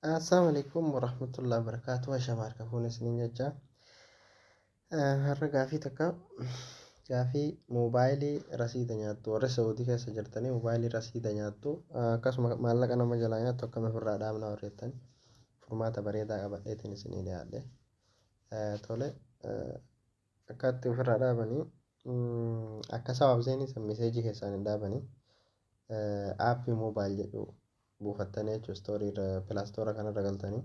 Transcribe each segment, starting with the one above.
Assalamu alaikum warahmatullahi wabarakatuh. Ashamaa harka fuune isiniin jechaa. Har'a gaafii takka gaafii moobaayilii rasiida nyaattu warri Saawudii keessa jirtanii moobaayilii rasiida nyaattu akkasuma maallaqa nama jalaa nyaattu akkamiin ofirraa dhaabna warri jettan furmaata bareedaa qabadheetiin isinii dhiyaadhe. Tole akkaatti ofirraa dhaabanii akka sawaabzeenii san miseejii keessaan hin dhaabanii App mobile jedhu buufattanii jechuudha story irra play store kana irra galtanii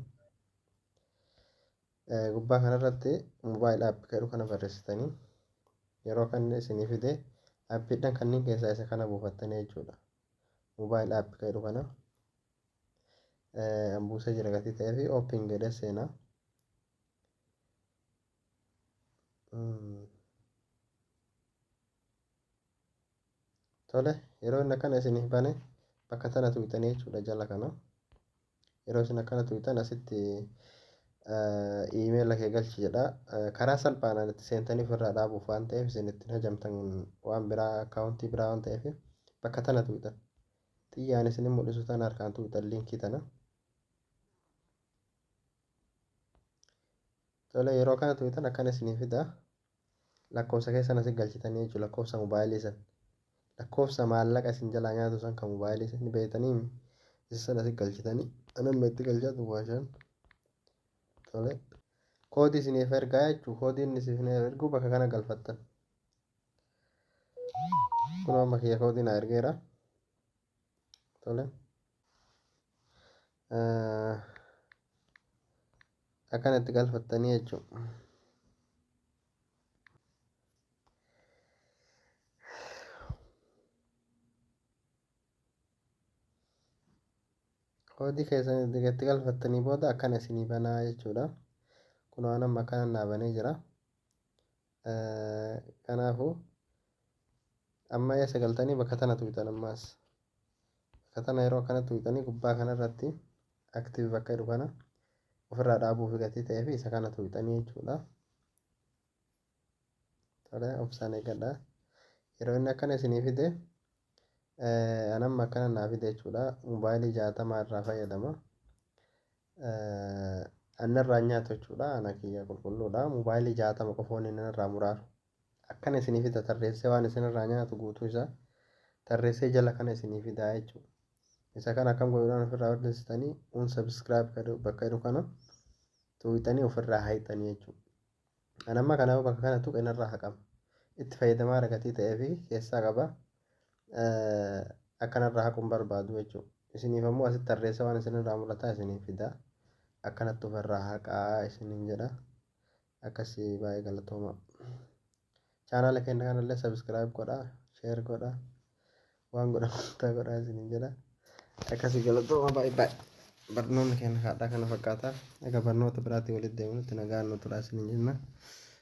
gubbaa kana irratti mobile app jedhu kana barreessitanii yeroo kan isinii fide appiidhaan kanneen keessaa isa kana buufattanii jechuudha mobile app jedhu kana buusee jira gatii ta'ee fi open jedhee seenaa tole yeroo inni akkana isiniif bane bakka tana tuqxanii jechuudha jala kana yeroo isin akkana tuqxan asitti iimeela kee galchi jedha karaa salphaanaan itti seentanii ofirraa dhaabuuf waan ta'eef isin ittiin hajamtan waan biraa akkaawuntii biraa waan ta'eef bakka tana tuqxan xiyyaan isin mul'isu tana harkaan tuqxan liinkii tana. Tole yeroo kana tuwitan akkan isinii fida lakkoofsa keessan asi galchitanii jechuudha lakkoofsa mobaayilii san lakkoofsa maallaqa isin jalaa nyaatu san kan mobaayilii san ni beektanii mi isa san asi galchitanii anan meetti galchaa duwwaa shan tole koodii isiniif ergaa jechuu koodii inni isin erguu bakka kana galfattan kun amma kiyya koodii na ergeera tole akkana itti galfattanii jechuudha. koodii keessan itti galfattanii booda akkana isinii banaa jechuudha. Kun waan amma akkana naa banee jira. Kanaafu amma eessa galtanii bakka tana tuqxan ammaas bakka tana yeroo akkana tuqxanii gubbaa kana irratti active bakka jedhu kana ofirraa dhaabuuf gatii ta'ee fi isa kana tuqxanii jechuudha. Tole obsaan eegadha. Yeroo inni akkana isinii fide anamma akkana naa fide jechuudha. Mobaayilii jaatamaa irraa fayyadama. Anna irraa hin nyaatu jechuudha ana kiyya qulqulluudha mobaayilii jaatama qofa wanni inni irraa muraaru akkana isinii fida tarreessee waan isin irraa nyaatu guutuu isaa tarreessee jala kana isinii fidaa jechuudha isa kana akkam godhuudhaan ofirraa balleessitanii unsubscribe bakka jedhu kana tuuqxanii ofirraa haayxanii jechuudha. An amma kana yoo bakka kana tuqe narraa haqama. Itti fayyadamaara gatii ta'ee fi keessaa qaba. Akka narraa haqu hin barbaadu jechuudha. Isiniif ammoo asitti tarreessa waan isinirraa mul'ataa isiniif fida. Akkanatti ofirraa haqaa isiniin jedha. Akkasii baay'ee galatooma. Chaanaala keenya kanallee subscribe godha, share godha, waan godhamu hundaa godha isiniin jedha. Akkasii galatooma baay'ee baay'ee barnoonni keenya haadhaa kana fakkaata. Egaa barnoota biraatti walitti deebinutti nagaan nu turaa isiniin jenna.